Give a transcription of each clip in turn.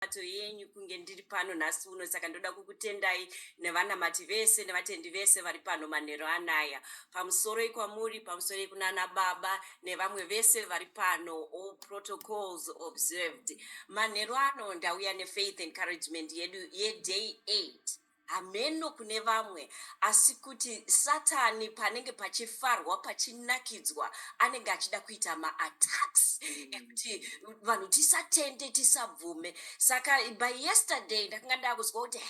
minamato yenyu kunge ndiri pano nhasi uno saka ndoda kukutendai nevanamati vese nevatendi vese vari pano manhero anaya pamusoro ikwamuri pamusoro ikunana baba nevamwe vese vari pano all protocols observed manhero ano ndauya nefaith encouragement yedu yeday 8 Hameno kune vamwe, asi kuti Satani panenge pachifarwa, pachinakidzwa, anenge achida kuita maattacks ekuti vanhu tisatende, tisabvume. Saka by yesterday ndakanga ndakunzwa kuti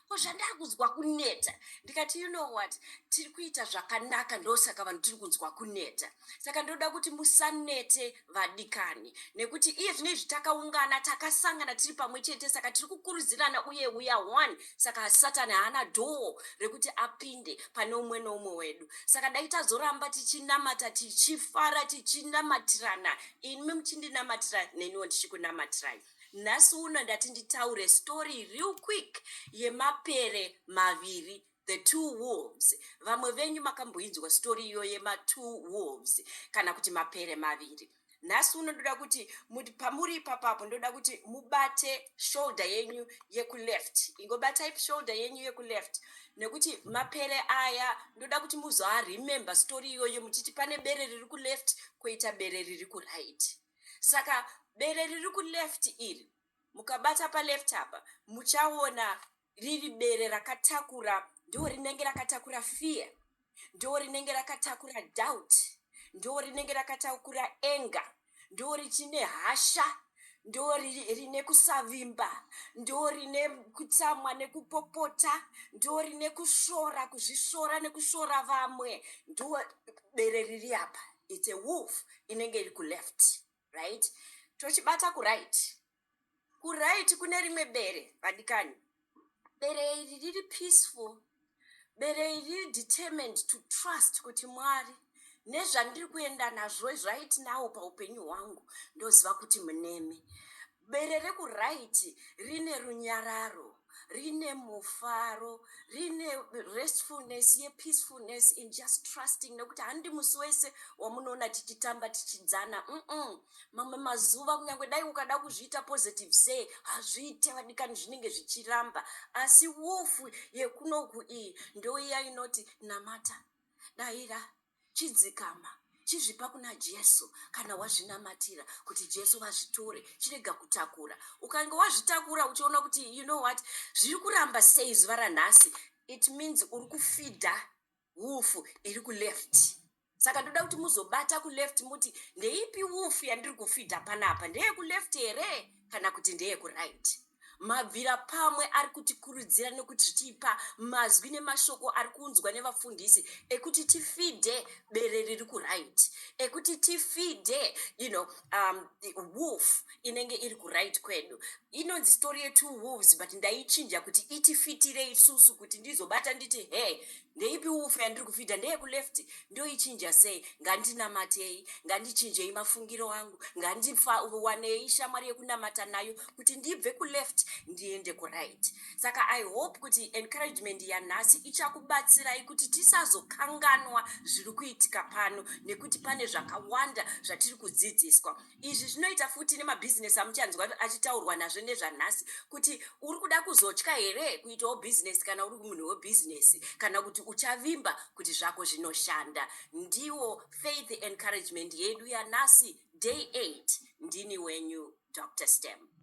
ko zvandakunzwa kuneta, ndikati you know what, tiri kuita zvakanaka ndosaka vanhu tiri kunzwa kuneta. Saka ndoda kuti musanete vadikani nekuti iye zvino izvi takaungana takasangana tiri pamwe chete saka tiri kukurudzirana uye uya one saka satani haana dhoo rekuti apinde pane umwe noumwe wedu saka dai tazoramba tichinamata tichifara tichinamatirana inimi muchindinamatira neniwo ndichikunamatirai nhasi uno ndati nditaure story real quick yemapere maviri The two wolves vamwe venyu makamboinzwa story iyo yema two wolves kana kuti mapere maviri nhasi uno ndoda kuti pamuri ipapapo ndoda kuti mubate shoulder yenyu yekuleft ingobatai shoulder yenyu yekuleft nekuti mapere aya ndoda kuti muzoaremember story iyoyo muchiti pane bere riri kuleft koita bere riri kuright saka bere riri kuleft iri mukabata paleft apa muchaona riri bere rakatakura ndo rinenge rakatakura fear ndo rinenge rakatakura doubt ndo rinenge rakatakura enga ndo richine hasha ndo rine kusavimba ndo rine kutsamwa nekupopota ndo rine kusvora kuzvisvora nekusvora vamwe ndo bere riri apa its a wolf inenge iri kuleft Right tochibata kuright kuright kune rimwe bere vadikani bere iri riri peaceful bere iri riri determined to trust kuti mwari nezvandiri kuenda nazvo zvait nawo paupenyu hwangu ndoziva kuti munemi Bere rekuright rine runyararo, rine mufaro, rine restfulness yepeacefulness in just trusting nekuti handi musi wese wamunoona tichitamba tichidzana mm mamwe mazuva kunyange dai ukada kuzviita positive sei hazviite vadikani zvinenge zvichiramba asi wolf yekunoku iyi ndoiya inoti namata daira chidzikama chizvipa kuna jesu kana wazvinamatira kuti jesu vazvitore chirega kutakura ukange wazvitakura uchiona kuti you know what zviri kuramba sei zuva ranhasi it means uri kufidha wufu iri kuleft saka ndoda kuti muzobata kuleft muti ndeipi wufu yandiri kufidha panapa ndeyekuleft here kana kuti ndeyekuright right. Mabvirapamwe ari kutikurudzira nekutipa mazwi nemashoko ari kuunzwa nevafundisi ekuti tifidhe bere riri kuraiti ekuti tifidhe you know, um, wolf inenge iri kuraiti kwedu inonzi story yetwo wolves but ndaichinja kuti itifitire isusu kuti ndizobata nditi he ndeipi upfu yandiri kufidha ndeyekuleft ndoichinja sei ngandinamatei ngandichinjei mafungiro angu ngandiwanei shamwari yekunamata nayo kuti ndibve kuleft ndiende kuright saka i hope kuti encouragement yanhasi ichakubatsirai kuti tisazokanganwa zviri kuitika pano nekuti pane zvakawanda zvatiri kudzidziswa izvi zvinoita futi nemabhizinesi amuchanzwa achitaurwa nazvo nezvanhasi kuti uri kuda kuzotya here kuitawo bhizinesi kana uri munhu webhizinesi kana kuti uchavimba kuti zvako zvinoshanda ndiwo faith encouragement yedu yanhasi day 8 ndini wenyu dr stem